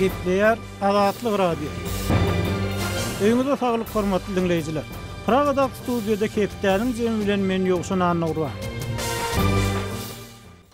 Gepleýär Azatlyk Radio. Öýüňize saglyk hormatly diňleýjiler. Pragadag studiýada Hepdäniň jemi bilen men Ýowşan Annagurban.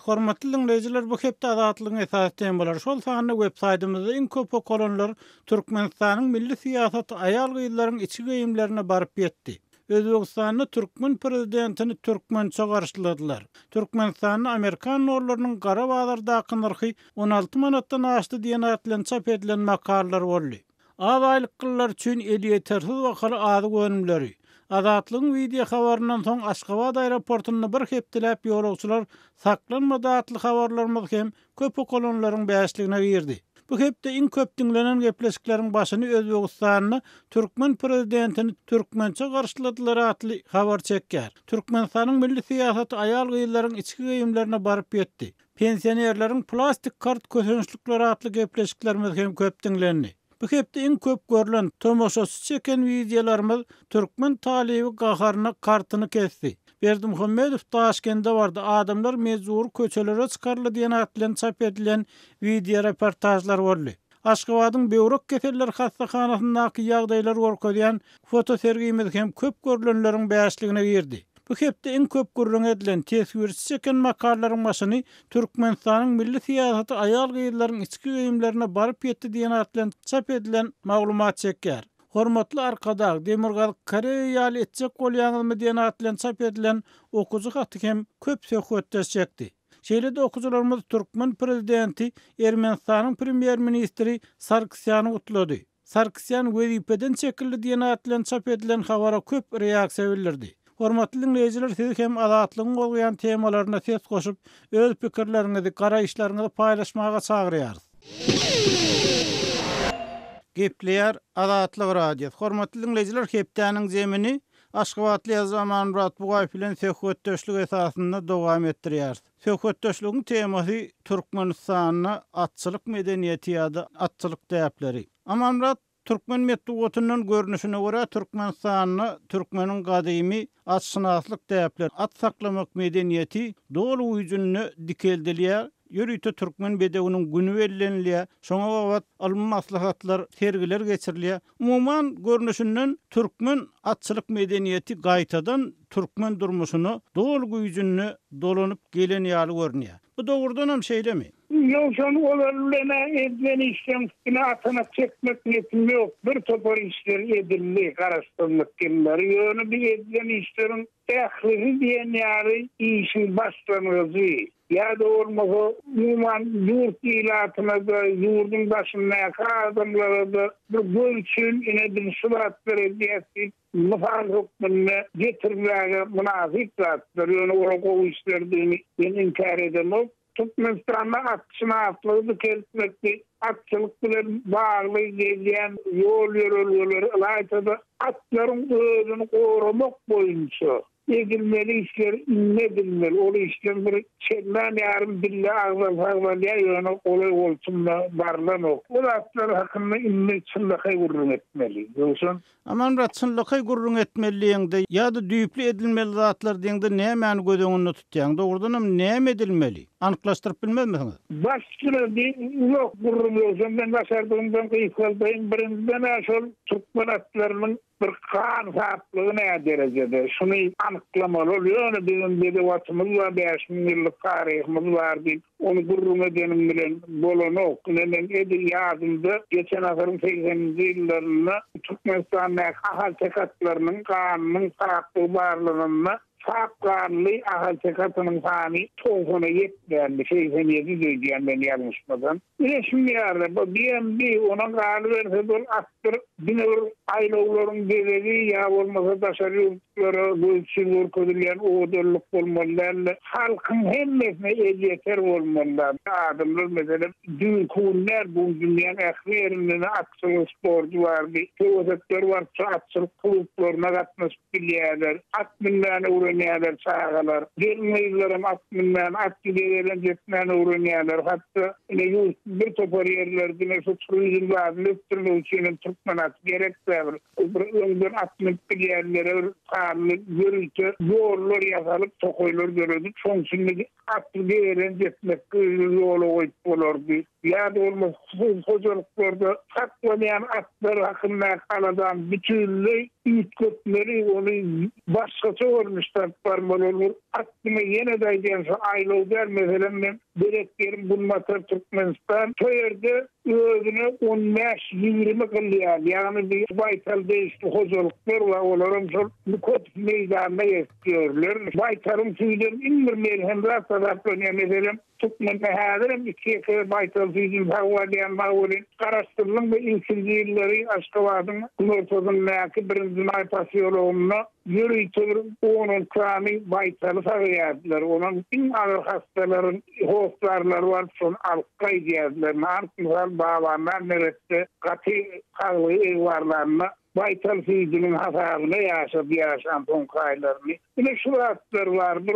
Hormatly diňleýjiler, bu hepde Azatlygyň esasy temalary, şol sanda web saýtymyzda iň köp okalanlar Türkmenistanyň milli syýasaty aýal-gyzlaryň içki geýimlerine baryp ýetdi. Özbegistanda türkmen prezidentini türkmençe garşyladylar. Türkmenistanda amerikan nollarynyň gara bazardaky nyrhy on alty manatdan aşdy diýen at bilen çap edilen makalalar boldy. Az aýlyklylar üçin elýetersiz bahaly azyk önümleri. Azatlygyň wideohabaryndan soň Aşgabat aeroportynda bir hepdeläp ýolagçylar saklanmady atly habarlarymyz hem köp okalanlaryň bäşligine girdi. Bu hepde iň köp diňlenen gepleşikleriň başyny Özbegistanda türkmen prezidentini türkmençe garşyladylar atly habar çekýär. Türkmenistanyň milli syýasaty aýal-gyzlaryň içki geýimlerine baryp ýetdi. Pensionerleriň plastik kart kösençlikleri atly gepleşiklerimiz hem köp diňlendi. Bu hepde iň köp görlen, tomaşaçy çeken wideolarymyz Türkmen talyby gaharyna kartyny kesdi. Berdimuhamedow Daşkende bardy, adamlar mejbury köçelere çykaryldy diýen at bilen çap edilen wideoreportažlar boldy. Aşgabadyň böwrek keselleri hassahanasyndaky ýagdaýlary görkezýän fotosergimiz hem köp görlenleriň bäşligine girdi. Bu hepde iň köp gürrüňi edilen, teswirçi çeken makalalaryň başyny Türkmenistanyň milli syýasaty aýal-gyzlaryň içki geýimlerine baryp ýetdi diýen at bilen çap edilen maglumat çekýär. Hormatly Arkadag, Demirgazyk Koreýa ýaly etjek bolýaňyzmy diýen at bilen çap edilen okyjy haty hem köp söhbetdeş çekdi. Şeýle-de okyjylarymyz türkmen prezidenti Ermenistanyň premýer-ministri Sargsýany gutlady. Sarkisýan wezipeden çekildi diýen at bilen çap edilen habara köp reaksiýa bildirdi. Hormatly diňleýjiler siz hem Azatlygyň gozgaýan temalaryna ses goşup, öz pikirleriňizi, garaýyşlaryňyzy paýlaşmaga çagyrýarys. Gepleýär Azatlyk Radiosy. Hormatly diňleýjiler hepdäniň jemini aşgabatly ýazyjy Amanmyrat Bugaýew bilen söhbetdeşlik esasynda dowam etdirýäris. Söhbetdeşligiň temasy Türkmenistanda atçylyk medeniýeti ýa-da atçylyk däpleri. Amanmyrat türkmen metbugatyndan görnüşine görä Türkmenistanda türkmeniň gadymy atşynaslyk däpleri, at saklamak medeniýeti doly güýjünde dikeldilýär, ýörite türkmen bedewiniň güni bellenilýär, şoňa babat ylmy maslahatlar, sergiler geçirilýär. Umuman görnüşinden türkmen atçylyk medeniýeti gaýtadan türkmen durmuşyna doly güýjünde dolanyp gelen ýaly görünýär. Bu dogrudanam şeýlemi? Ýogsam olar bilen-ä edilen işleň üstüne atanak çekmek nesim ýok. Bir topar işler edildi Garaşsyzlyk ýyllary. Ýöne bu edilen işleriň ählisi diýen ýaly işiň başlangyjy. Ýa-da bolmasa, umuman, ýurt ilatyna-da, ýurduň daşyndaky adamlara-da bir göz üçin, ine, biz şu zatlary edýäs diýip, mysal hökmünde getirmäge mynasyp zatlar. Ýöne olar gowy işlerdigini men inkär edemok. Türkmenistanda atşynaslygy dikeltmekde, atçylyk bilen bagly gelýän ýol-ýörelgeleri, ylaýta-da, atlaryň özüni goramak boýunça Edilmeli işler indi edilmeli. Ol işden bir çendan ýarym dille agzal sagzalýar, ýöne golaý goltunda barlanok. Bu zatlar hakynda indi çynlakaý gürrüň etmeli. Ýogsam. Amanmyrat, çynlakaý gürrüň etmeli diýeňde ýa-da düýpli edilmeli zatlar diýeňde nämäni göz öňünde tutýaň? Dogrudanam näme edilmeli? Anyklaşdyryp bilmezmisiňiz? Baş süredi uzak gürrüň, ýogsam men başardygymdan gysgaldaýyn. Birinjiden-ä şol türkmen atlarynyň Bir hansaplygy näderejede, şuny anyklamaly ol. Ýöne biziň bedew-atymyz bar, bäş müň ýyllyk taryhymyz bar diýip, ony gürrüň edeniň bilen bolanok. Ine, meň edil ýadymda, geçen asyryň segseninji ýyllarynda Türkmenistandaky ahalteke atlarynyň ganynyň saplygy barlananda, Çap ganly ahaltekasynyň sany togsana ýetmändi, segsen ýedi diýýän men ýalňyşmasam. Bilesim ýaly, bu BMB, onuň galyberse-de ol atdyr, diňe bir aýlawlaryň bezegi ýa bolmasa daşary ýurtlara gözçil görkezilýän owadanlyk bolmaly däldi. Halkyň hemmesine elýeter bolmaly däl. Adamlar, meselem, düýnki gün däl, bu gün dünýäň ähli ýerinde-de atçylyk sporty bardy. Söwesekler barypça atçylyk klublaryna gatnaşyp, Bilýärler. At münmäni öwrenýärler çagalar. Gelin-gyzlaram at münmäni, atly gezelenç etmäni öwrenýärler. Hatda ine, ýurtda bir topar ýerler diňe şu turizm zadyny ösdürmek üçin hem türkmen aty gerek-dä bir. Bir öňden at münüp bilýänlere bir sanly ýörite ýollar ýasalyp, tokaýlar döredip, şonuň üçin biz Atly beýelen ýetmek gyzy ýola goýup bolardy. Ýa-da bolmasa hususy hojalyklarda saklanýan atlar hakyndaky aladany bütinleý üýtgetmeli, ony başgaça görnüşde alyp barmaly bolar. Aklyma ýene-de aýdýan şu aýlaw däl, meselem, men belet ýerim Günbatar Türkmenistan, şo ýerde özüne on bäş, ýigrimi gylýan, ýagny baýtal degişli hojalyklar bar, olaram şol Nikotiýew meýdanyna ýer. Görülermiş, baýtalyň süýdem iň bir melhem zat hasaplanýar. Meselem, türkmende häzirem iki-ýeke baýtal süýdüni sagbal alýan bar welin, Garaşsyzlygyň bu ilkinji ýyllary Aşgabadyň günortasyndaky Birinji maý posýologynda ýörite bir on-on kany baýtaly sagýardylar. Onuň iň agyr hassalaryň hossarlary baryp, şony alyp gaýdýardylar. Nagt mysal, Babanlar neresde gaty saglygy egbarlanda, Baýtal süýdüniň hasabyna ýaşap ýaşan soňky aýlaryny. Ine şu zatlar bar bir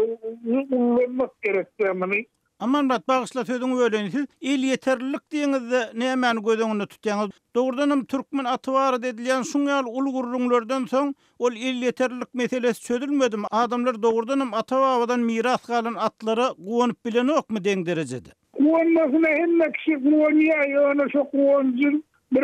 ullanmak gerekdä muny. Amanbat bagyşla sözüňi böleýin siz elýeterlilik diýeniňizde nämäni göz öňünde tutýaňyz? Dogrudanam türkmen aty barada edilýän şuň ýaly uly gürrüňlerden soň ol elýeterlilik meselesi çözülmedimi? Adamlar dogrudanam ata-babadan miras galan atlara guwanyp bilenokmy deň derejede? Guwanmasyna hemme kişi guwanýar ýöne şo guwanjyň Bir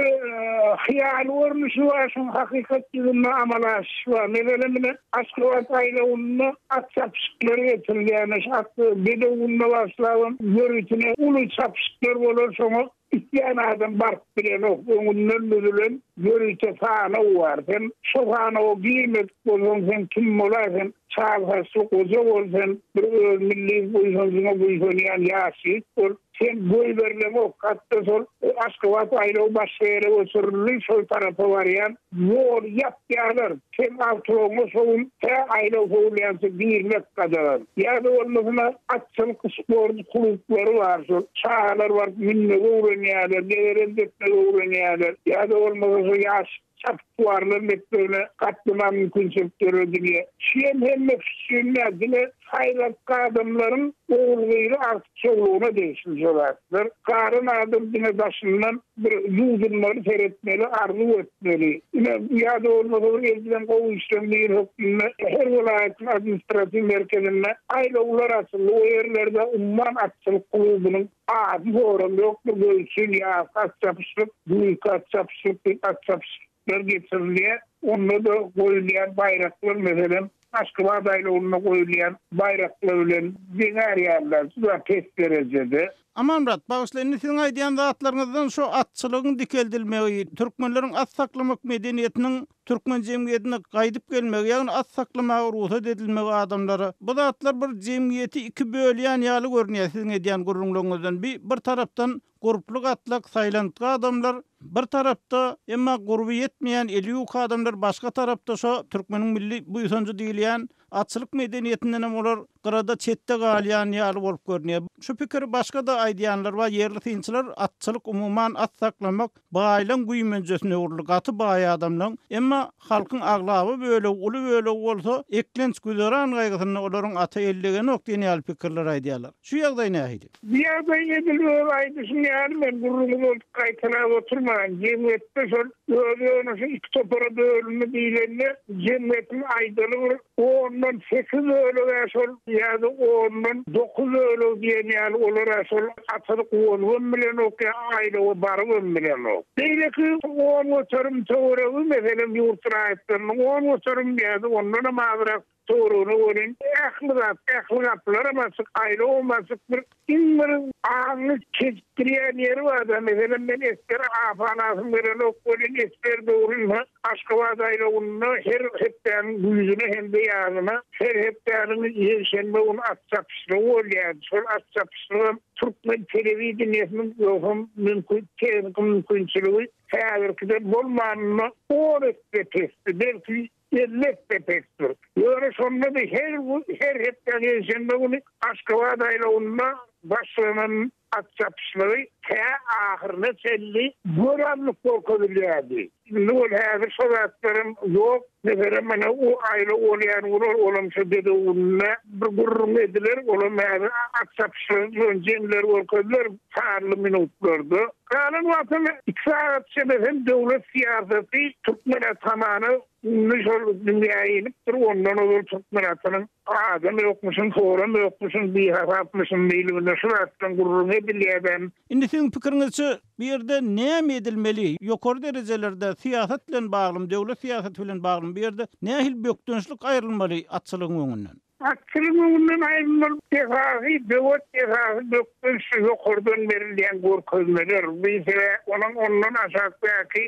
hyýaly görnüşi bar, şoň hakykat ýüzünde amala aşyşy bar. Meselem, ine, Aşgabat aýlawynda at çapyşyklary geçirilýär. Şu at bedew gününe baglapam ýörütine uly çapyşyklar bolar. Şoňa isleýän adam baryp bilenok. Öňünden düzülen ýörite sanaw bar. Sen şo sanawa girmedik bolsaň, sen kim bolar? Sen çal saçly goja bol, sen bir öz milli buýsanjyňa buýsanýan ýaş ýigit bol. Sen goýberileňok, hatda şol Aşgabat aýlaw başga ýere göçürildi, şol tarapa barýan ýoly ýapýarlar. Sen awtologyňa şo gün tä aýlaw sowulýança girmek gadagan. Ýa-da bolmasa atçylyk sport klublary bar, şol çagalar baryp münmegi öwrenýärler, degerem depmegi öwrenýärler. Ýa-da bolmasa şo ýaş Çapyksuwarlar mekdebine gatnaman mümkinçilik döredilýär. Şu hem hemmesi üçin däl, diňe saýlapky adamlaryň ogulgyzy artykçylygyna degişli şu zatlar. Garan adam diňe daşyndan bir ýuwdunmany seretmeli, arzuw etmeli. Ine, ýa-da bolmasa bir edilen gowy işleň biri hökmünde her welaýatyň administratiw merkezinde aýlawlar açyldy. O ýerlerde umman atçylyk klubunyň Ady soram ýokdur göz üçin ýazky at çapyşlyk, güýzki at çapyşlyk diýip at çapyşyklar geçirilýär. Onda-da goýulýan baýraklar meselem Aşgabat aýlawynda goýulýan baýraklar bilen deň arýarlar juda pes derejede. Amanmyrat, bagyşla indi siziň aýdýan zatlaryňyzdan şu atçylygyň dikeldilmegi, türkmenleriň at saklamak medeniýetiniň Türkmen jemgyýetine gaýdyp gelmegi, ýagny at saklamaga rugsat edilmegi adamlara, bu zatlar bir jemgyýeti iki bölýän ýaly görünýär siziň edýän gürrüňleriňizden bi bir tarapdan gurply gatlak saýlantgy adamlar bir tarapda emma gurby ýetmeýän eli ýuka adamlar başga tarapda şo türkmeniň milli buýsanjy diýilýän Atçylyk medeniýetindenem olar gyrada çetde galýan ýaly bolup görünýär. Şu pikiri başga-da aýdýanlar bar, ýerli synçylar atçylyk umuman at saklamak baýlaň güýmenjesine öwrüldi, gaty baý adamlaň, emma halkyň aglaba bölegi, uly bölegi bolsa eklenç güzeran gaýgysynda olaryň ata ellegenok diýen ýaly pikirler aýdýarlar. Şu ýagdaý nähili? Bu ýagdaý edil öz aýdyşyň ýaly men gürrüňi bolup gaýtalap oturmaýyn. Jemgyýetde şol öz ýonaşy iki topara bölündi diýlende jemgyýetiň aýdaly bir ondan sekiz bölegi-ä şol ýa-da ondan dokuz bölegi diýen ýaly olar-a şol atalyk bolubam bilenok ýa aýlawa barybam bilenok. Beýleki on göterim töweregi meselem ýurt raýatlarynyň on göterim ýa-da ondanam azrak Dogrygyna welin, ähli zat, ähli gapylaram açyk, aýlawam açyk. Bir, iň bir aňňy çeşdirýän ýeri bar-da, meselem, men Esber apa ynasym gelenok welin, Esber dogrynda Aşgabat aýlawynda her hepdäniň güýzüne hem-de ýazyna, her hepdäniň ýekşenbe güni at çapyşlygy bolýardy. Şol at çapyşlygam türkmen telewideniýesiniň ýogsam mümkin, tehniki mümkinçiligi häzirkiden bolmanynda on esse pesdi. Belki, Elbetde pesdir. Ýöne şonda-da her her hepdä ýekşenbe güni Aşgabat aýlawynda başlanan at çapyşlygy tä ahyryna çenli göranlyk görkezilýärdi. Indi ol häzir şo zatlaram ýok. Meselem, mana o aýlaw bolýan gün olam şo Dedew gününe bir gürrüň ediler. Olam häzir at çapyşlygy bilen jeňler görkeziler sanly minutlarda. Galan wagtyň iki sagat içinde hem döwlet syýasaty türkmen atamana indi şol dünýä inipdir, ondan ozal türkmen atynyň adam ýokmuşyn, soram ýokmuşyn, bihasapmyşyn diýilginde şu zatdan gürrüň edilýärden. Indi siziň pikiriňizçe bu ýerde näme edilmeli? Ýokary derejelerde syýasat bilen baglymy, döwlet syýasaty bilen baglymy bu ýerde nähili bökdençlik aýrylmaly atçylygyň öňünden? Atçylyk öňünden aýrylmaly desgasy, böwet desgasy bökden şu ýokardan berilýän görkezmeler, biysele onuň ondan aşakdaky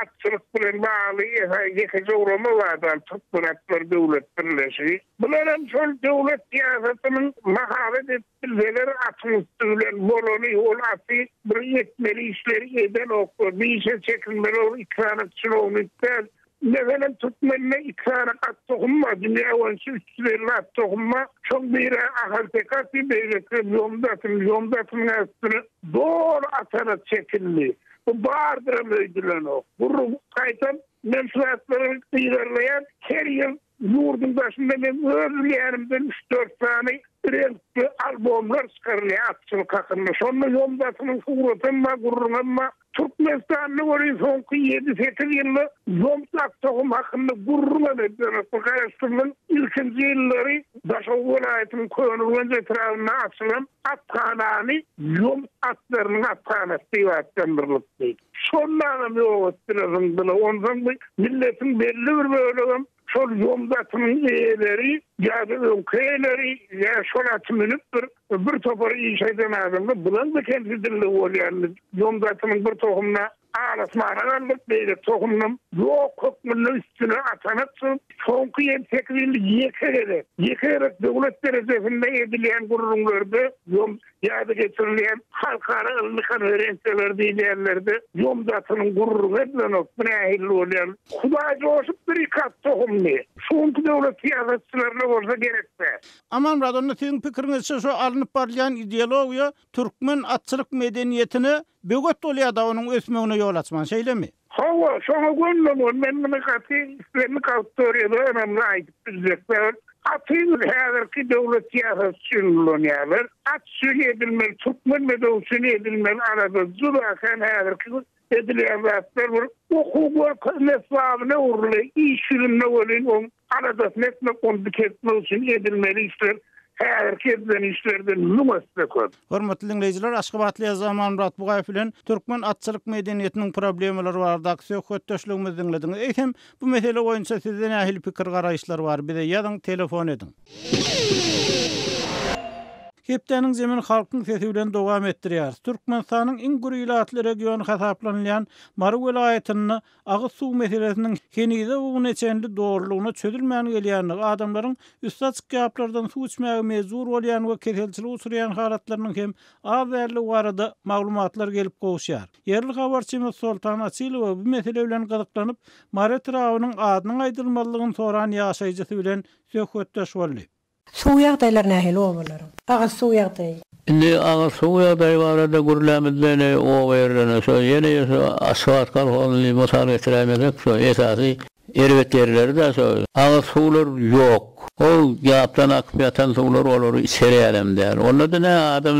atçylyk bilen bagly ýekeje gurama bar dal, Türkmen atlar döwlet birleşigi. Bular hem şol döwlet syýasatynyň mahabat edip Bizeler atyň üsti bilen bolany, ol aty bir etmeli işleri edenok we bir işe çekilmeli ol iki sany çinownik däl. Meselem, türkmende iki sany at tohum bar, dünýä boýunça üç ýüz elli at tohum bar. Şoň biri ahalteke aty, beýlekisi ýomut aty. Ýomut atynyň ählisine doly atana çekildi. Bu bardyram öýdülenok. Gurrup gaýtam, men şu zatlary yzarlaýan, her ýyl Ýurduň daşynda men öz bilýänimden üç-dört sany reňkli albomlar çykarylýar atçylyk hakynda. Şonda ýomdasynyň suratam bar, gürrüňem bar. Türkmenistanda welin soňky ýedi-sekiz ýylda ýomut aktohum hakynda gürrüňem edilýär. Bu garaşsyzlygyň ilkinji ýyllary Daşoguz welaýatynyň Köneürgenç etrabynda açylan athanany ýomut atlarynyň athanasy diýip atlandyrylypdy. Şondanam ýok etdiler zyňdylar. Onsoň bu milletiň belli bir bölegem şol ýomut atynyň eýeleri ýa-da öňki eýeleri ýa şol aty münüp bir bir topar iş eden adamlar bularmy kemsidildi bolýarmy ýomut atynyň bir tohumyna al asmana galdyryp beýleki tohumynam ýok hökmünde üstüne atanak çykyp soňky ýedi sekiz ýylda ýeke gezek ýeke gezek döwlet derejesinde edilýän gürrüňlerde ýomut ýada geçirilýän halkara ylmy konferensiýalar diýen ýerlerde ýomzatynyň gürrüňi edilenok, bu nähilli bolýan. Hudaý joşup bir iki at tohumly. Şu günki döwlet syýasatçylaryna bolsa gerekdä. Amanmyrat onda siziň pikiriňizçe şu alnyp barylýan ideologiýa türkmen atçylyk medeniýetine böwet bolýada onuň ösmegine ýol açman şeýlemi? Hawa, şoňa gönülemgin, men muny gaty islendik awtoriýada ynamly aýdyp biljek zat. Gaty bir häzirki döwlet syýasaty üçin ulanýarlar. At üçin edilmeli, türkmen medewi üçin edilmeli alada juda kän häzirki bir edilýän zatlar bir okuw görkezme esbabyna öwrüle, iş ýüzünde welin oň Aladasyny etmek, ony dikeltmek üçin edilmeli işler häzirki edilen işlerden müň esse köp. Hormatly diňleýjiler, aşgabatly ýazyjy Amanmyrat Bugaýew bilen türkmen atçylyk medeniýetiniň problemalary baradaky söhbetdeşligimizi diňlediňiz. Eýsem, bu mesele boýunça sizde nähili pikir-garaýyşlar bar? Bize ýazyň, telefon ediň. Hepdäniň zemin Halkyň sesi bilen dowam etdirýäris. Türkmenistanyň iň gür ilatly regiony hasaplanylýan Mary welaýatynda Agyz suw meselesiniň henize bu güne çenli dolulygyna çözülmän gelýändigi, adamlaryň üsti açyk ýaplardan suw içmäge mejbur bolýan we keselçilik uçurýan halatlarynyň hem az däldigi barada maglumatlar gelip gowuşýar. Ýerli habarçymyz Soltan Açylowa bu mesele bilen gyzyklanyp, Mary etrabynyň adynyň aýdylmazlygyny soran ýaşaýjysy bilen söhbetdeş boldy. Suw ýagdaýlary nähili obalaryň? Agyz suw ýagdaýy. Indi agyz suw ýagdaýy barada gürlämizde ne oba ýerlerine, şo ýene ýe şo Aşgabat kolhozyny mysal getiräýmesek, şo esasy erbet ýerleri-de şo agyz suwlar ýok. Ol gapdan akyp ýatan suwlar olary içer ýalam däl. Onda-da nä adam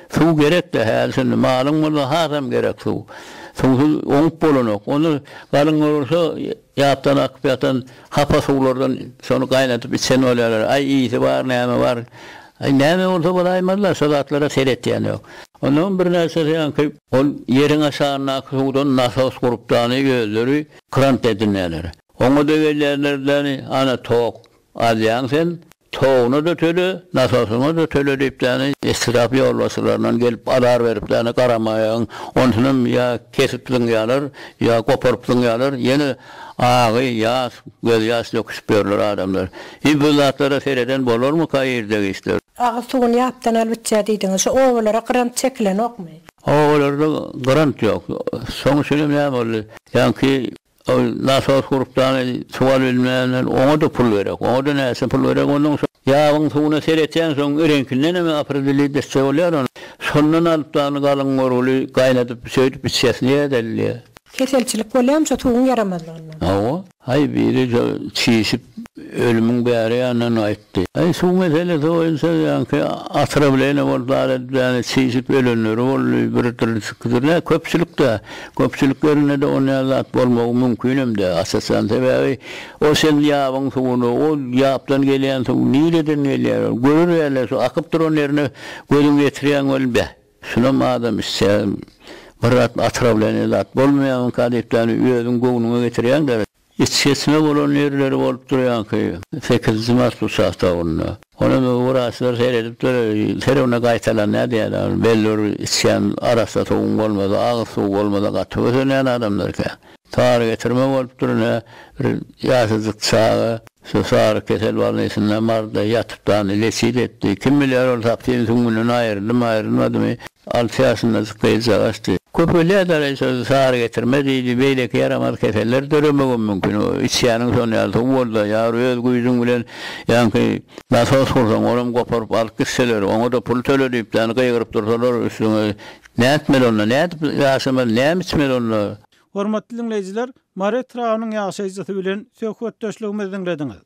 suw gerek-de häli-şindi. Malyň bolsa hasam gerek suw. Suwsuz oňup bolanok. Onda galyň bolsa Ýapdan akyp ýatan hapa suwlardan şony gaýnadyp içen bolýarlar. Aý, ysy bar, näme bar? Aý, näme bolsa bolaýmaz-la, şo zatlara seretýän ýok. Onnoň birnäçesi aňky ol ýeriň aşagyndaky suwdan nasos gurupdany özleri krant edinýärler. Oňa-da gelýärler-de, Ana, tok alýaň sen. Toguňa-da töle, nasasyňa-da töle diýipdäni etrap ýolbaşçylaryndan gelip azar beripdäni garamaýagyň, onsunam ýa kesip zyňýalar, ýa goparyp zyňýalar, ýene agy, ýas, gözýaş döküşip ýörler adamlar. Hi bu zatlara sereden bolarmyka irde giçler. Agyz suwuny ýapdan alyp içýär diýdiňiz. Şu obalara grant çekilenokmy? Obalarda grant ýok. Soň üçinem näme boldy? Ýaňky Ol nasos gurupdany suwaryp bilmändir. Oňa-da pul gerek. Oňa-da näçe pul gerek onuň. Ýabyň suwuna seretýänsoň, öreňkinden hem apridelýi desse bolýar ony. Şondan alyp dany galyň görgüli gaýnadyp, söýdüp içýäsini ýadalýar. Keselçilik bolýamyşa suwuň ýaramazlygyndan. Hawa. Aý biri şo çişip Ölümiň bäri ýanyndan gaýtdy. Aý, suw meselesi boýunça ýaňky otrawleniýe bolup zat edýän, çişip ölenleri boldy, birdir-ikidir, nä, köpçülik-dä. Köpçülik ýerinde-de ol näme zat bolmagy mümkinem däl, aç-açan. Sebäbi ol sen ýabyň suwuny, o ýapdan gelýän suw nireden gelýär ol? Görer ýaly-da şu akyp duran ýerine gözüňi ýetirýäň weli, beh, şunam adam içse bir zat otrawleniýe zat bolmaýarmyka diýip ýany özüň göwnüňe getirýäň-dä. Içgysma bolan ýerleri bolup durýanky, sekizinji mart uçastogynda. Ony hem wraçlar seredipdir, her güne gaýtalanýar diýýärler. Belli bir içýän arassa suwuň bolmasa, agyz suw bolmasa gaty kösenýän adamlar eken. Sary getirme bolupdyr ine, bir ýaşajyk çaga. Şu sary kesel bolnisynda marda ýatyp dany leçit etdi. Kim bilýär ol sapsyn süňňünden aýryldymy, aýrylmadymy. Alty ýaşyndajyk gyzjagaşdy. Köpelýär daraý söz sary getirme diýdi. Beýleki ýaramaz keseller döremegem mümkin. Içýäniň şon ýaly suw bolda, ýar öz güýjüň bilen ýanky. Nasos gursaň olam goparyp alyp gitseler, oňa-da pul töle diýip dany gygyryp dursalar üstüňe nätmeli onda, nädip ýaşamaly, näme içmeli onda. Hormatly diňleýjiler, Mary etrabynyň ýaşaýjysy bilen söhbetdeşligimizi diňlediňiz.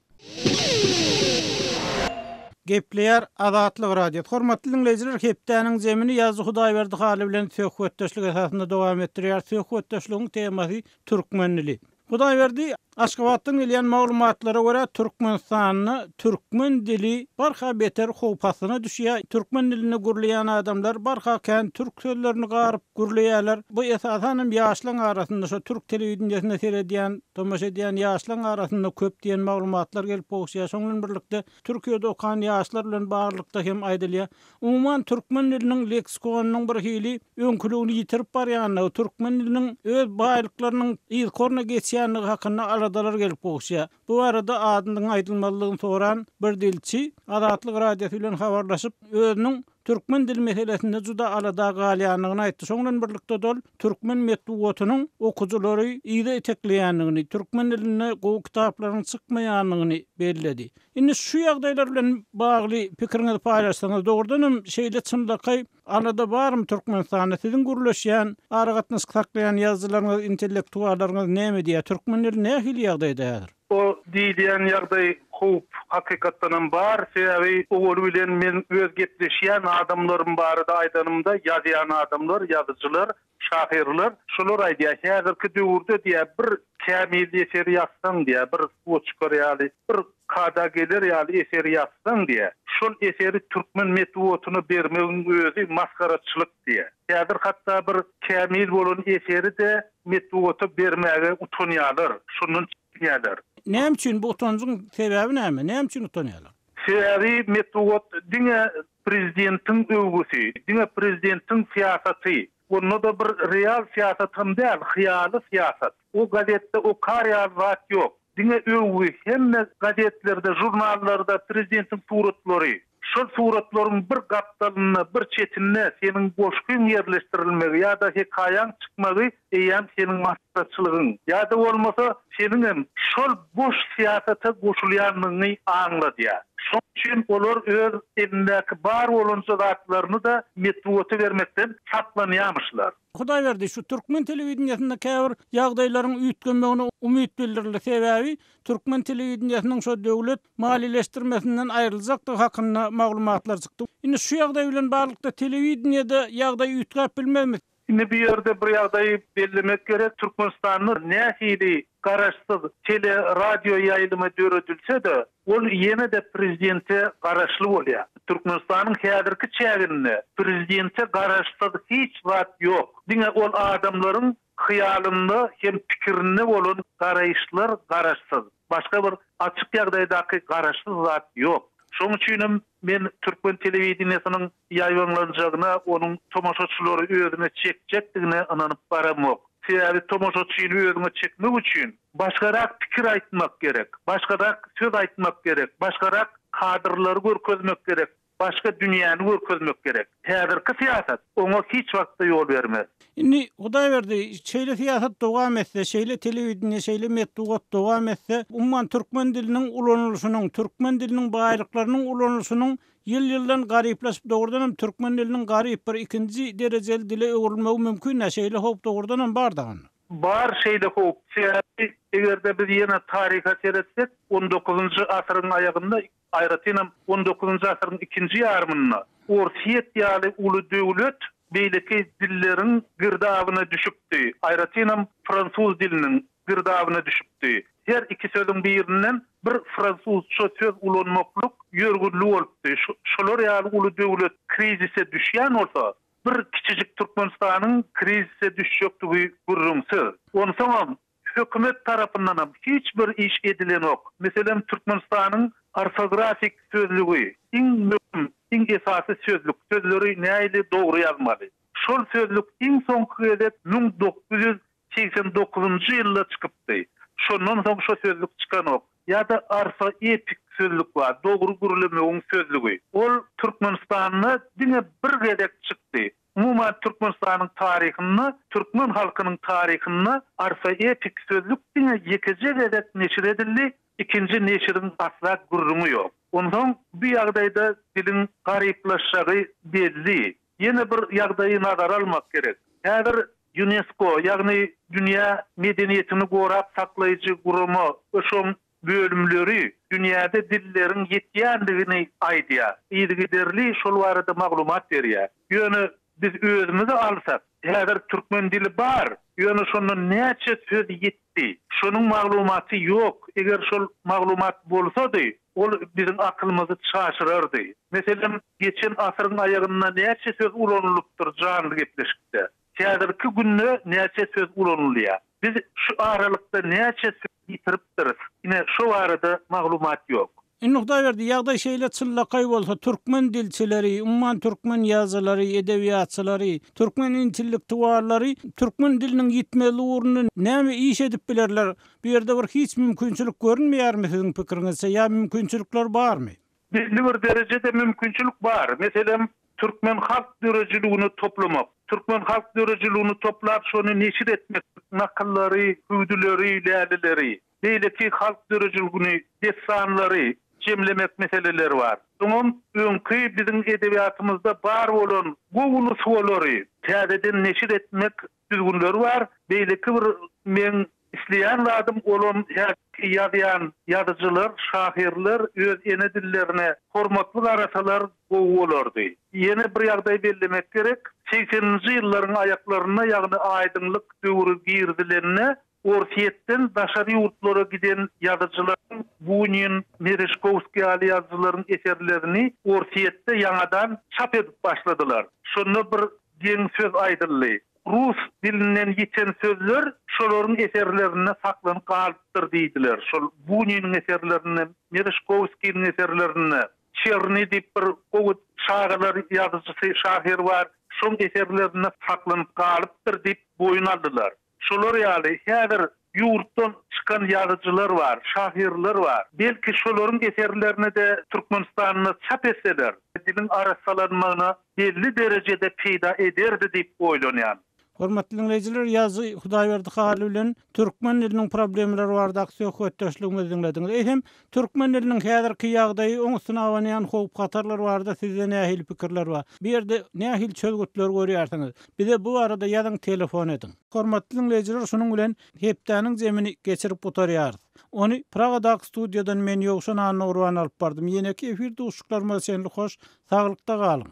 Gepleýär Azatlyk Radiosy. Hormatly diňleýjiler, hepdäniň jemini ýazyjy Hudaýberdi Hally bilen söhbetdeşlik esasynda dowam etdirýäris. Söhbetdeşligiň temasy türkmen dili. Hudaýberdi, Aşgabatdan gelýän maglumatlara görä, Türkmenistanda türkmen dili barha beter howp astyna düşýär. Türkmen dilinde gürleýän adamlar barha kän türk sözlerini garyp gürleýärler. Bu esasan hem ýaşlaň arasynda, şo türk telewideniýesine seredýän, tomaşa edýän ýaşlaň arasynda köp diýen maglumatlar gelip gowuşýar. Şoň bilen birlikde Türkiýede okan ýaşlar bilen baglylykda hem aýdylýar. Umuman, türkmen diliniň leksikonynyň birhili öňküligini ýitirip barýandygy, türkmen diliniň öz baýlyklarynyň yzkoryna geçýändigi hakynda aladalar gelip gowuşýar. Bu barada adynyň aýdylmazlygyny soran bir dilçi Azatlyk Radiosy bilen habarlaşyp, özüniň türkmen dili meselesinde juda alada galýandygyny aýtdy. Şoň bilen birlikde-de ol türkmen metbugatynyň okyjylary yza itekleýändigini, türkmen dilinde gowy kitaplaryň çykmaýandygyny belledi. Indi şu ýagdaýlar bilen bagly pikiriňizi paýlaşsaňyz, dogrudan hem şeýle çynlakaý alada barmy Türkmenistanda? Siziň gürleşýän, aragatnaşyk saklaýan ýazyjylaryňyz, intellektuallaryňyz näme diýýär? Türkmen dili nähili ýagdaýda häzir? O diýilýän ýagdaý howp hakykatdan hem bar. Sebäbi owaly bilen men öz gepleşýän adamlarym barada aýdanymda, ýazýan adamlar, ýazyjylar Şahyrlar şular aýdýar, häzirki döwürde diýýär, bir kämil eseri ýazsaň diýýär, bir suwa çykar ýaly, bir kada geler ýaly eseri ýazsaň diýýär, şol eseri türkmen metbugatyna bermegiň özi masgaraçylyk diýýär. Häzir hatda bir kämil bolan eseri-de metbugata bermäge utanýarlar, şondan çekinýärler. Näme üçin bu utanjyň sebäbi näme? Näme üçin utanýarlar? Sebäbi metbugat diňe prezidentiň öwgüsi, diňe prezidentiň syýasaty, onda-da bir real syýasat hem däl, hyýaly syýasat. O gazetde okar ýaly zat ýok. Diňe öwgi, hemme gazetlerde, žurnallarda prezidentiň suratlary. Şol suratlaryň bir gapdalynda, bir çetinde seniň goşgyň ýerleşdirilmegi ýa-da hekaýaň çykmagy eýýäm seniň maslahatçylygyň ýa-da bolmasa seniňem şol boş syýasata goşulýandygyňy aňladýar. Şoň üçin olar öz elindäki bar bolanja zatlaryny-da metbugata bermekden saplanýarmyşlar. Hudaýberdi, şu türkmen telewideniýesinde käbir ýagdaýlaryň üýtgemegine umyt bildirildi, sebäbi türkmen telewideniýesiniň şu döwlet maliýeleşdirmesinden aýryljakdygy hakynda maglumatlar çykdy. Indi şu ýagdaý bilen baglylykda telewideniýede ýagdaý üýtgäp bilmezmi? Indi bu ýerde bir ýagdaýy bellemek gerek, Türkmenistanda nähili garaşsyz tele, radio ýaýlymy döredilse-de, ol ýene-de prezidente garaşly bolýar. Türkmenistanyň häzirki çäginde prezidente garaşsyz hiç zat ýok. Diňe ol adamlaryň hyýalynda hem pikirinde bolan garaýyşlar garaşsyz. Başga bir açyk ýagdaýdaky garaşsyz zat ýok. Şoň üçinem men türkmen telewideniýesiniň ýaýbaňlanjagyna, onuň tomaşaçylary özüne çekjekdigine ynanyp baramok. Sebäbi tomaşaçyny özüňe çekmek üçin başgarak pikir aýtmak gerek, başgarak söz aýtmak gerek, başgarak kadrlary görkezmek gerek. başga dünýäni görkezmek gerek. Häzirki syýasat oňa hiç wagtda ýol bermez. Indi, Hudaýberdi, şeýle syýasat dowam etse, şeýle telewideniýe, şeýle metbugat dowam etse, umuman, türkmen diliniň ulanylyşynyň, türkmen diliniň baýlyklarynyň ulanylyşynyň ýyl-ýyldan garyplaşyp, dogrudan hem, türkmen diliniň garyp, bir ikinji derejeli dile öwrülmegi mümkin-dä, şeýle howp dogrudan hem bar dagy. Bar şeýle howp. Sebäbi, eger-de biz ýene taryha seretsek, on dokuzynjy asyryň aýagynda Aýratynam, on dokuzynjy asyryň ikinji ýarymynda orsýet ýaly uly döwlet beýleki dilleriň girdabyna düşüpdi, aýratynam, fransuz diliniň girdabyna düşüpdi. Her iki sözüň birinden bir fransuzça söz ulanmaklyk ýörgünli bolupdy. Şolar ýaly uly döwlet krizise düşýän bolsa, bir kiçijik Türkmenistanyň krizise düşjekdigi gürrüňsiz. Onsoňam, Hökümet tarapyndanam hiç bir iş edilenok. Meselem, Türkmenistanyň orfografik sözlügi, iň möhüm, iň esasy sözlük, sözleri näili dogry ýazmaly. Şol sözlük iň soňky gezek müň dokuz ýüz segsen dokuzynjy ýylda çykypdy. Şondan soň şo sözlük çykanok. Ýa-da orfoepik sözlük bar, dogry gürlemegiň sözlügi. Ol Türkmenistanda diňe bir gezek çykdy. Umuman Türkmenistanyň taryhynda, türkmen halkynyň taryhynda Arfa epik sözlük diňe ýekeje gezek neşir edildi, ikinji neşiriň asla gürrüňi ýok. Onsoň bu ýagdaýda diliň garyplaşjagy belli. Ýene bir ýagdaýy nazara almak gerek. Häzir Ýunesko, ýagny dünýä medeniýetini gorap saklaýjy gurama, öşoň bölümleri dünýäde dilleriň ýetýändigini aýdýar, yzygiderli şol barada maglumat berýär. Ýöne biz özümizi alsak, häzir türkmen dili bar, ýöne şondan näçe söz ýetdi, şonuň maglumaty ýok, eger şol maglumat bolsady, ol biziň akylymyzy çaşyrardy. Meselem, geçen asyryň aýagynda näçe söz ulanylypdyr janly gepleşikde? Häzirki günde näçe söz ulanylýar? Biz şu aralykda näçe söz ýitiripdiris? Ine, şo barada maglumat ýok. Indi Hudaýberdi, ýagdaý şeýle çynlakaý bolsa, türkmen dilçileri, umuman türkmen ýazyjylary, edebiýatçylary, türkmen intellektuallary türkmen diliniň ýitmezligi ugrunda näme iş edip bilerler? Bu ýerde bir hiç mümkinçilik görünmeýärmi siziň pikiriňizçe ýa mümkinçilikler barmy? Belli bir derejede mümkinçilik bar. Meselem, türkmen halk döredijiligini toplamak. Türkmen halk döredijiligini toplap, şony neşir etmek, nakyllary, hüwdüleri, lälileri, beýleki halk döredijiligini, dessanlary jemlemek meseleleri bar. Öňem öňki biziň edebiýatymyzda bar bolan gowy nusgalary täzeden neşir etmek düzgünleri bar. Beýleki bir meň isleýän zadym, olam häzirki ýazýan ýazyjylar, şahyrlar öz ene dillerine hormatly garasalar gowy bolardy. Ýene bir ýagdaý bellemek gerek, segseninji ýyllaryň aýaklarynda, ýagny aýdyňlyk döwri girizilende Orsýetden daşary ýurtlara giden ýazyjylaryň Bunin, Mereşkowskiý ýaly ýazyjylaryň eserlerini Orsýetde ýaňadan çap edip başladylar. Şonda bir geň söz aýdyldy. Rus dilinden ýiten sözler şolaryň eserlerinde saklanyp galypdyr diýdiler. Şol Buniniň eserlerinde, Mereşkowskiniň eserlerinde, Çerni diýip bir gowy çagalar ýazyjysy, şahyr bar, şoň eserlerinde saklanyp galypdyr diýip boýun aldylar. Şolar ýaly häzir ýurtdan çykan ýazyjylar bar, şahyrlar bar. Belki şolaryň eserlerini-de Türkmenistanda çap etseler, diliň arassalanmagyna belli derejede peýda ederdi diýip oýlanýan. Hormatly diňleýjiler, ýazyjy Hudaýberdi Haly bilen türkmen diliniň problemalary baradaky söhbetdeşligimizi diňlediňiz. Eýsem, Türkmen diliniň häzirki ýagdaýy, oň üstüne abanýan howp-hatarlar barada sizde nähili pikirler bar? Bu ýerde nähili çözgütleri görýärsiňiz? Bize bu barada ýazyň, telefon ediň. Hormatly diňleýjiler şunuň bilen hepdäniň jemini geçirip gutarýarys. Ony Pragadag studiýadan men Ýowşan Annagurban alyp bardym. Ýeneki efir duşuşyklarymyza çenli hoş saglykda galyň.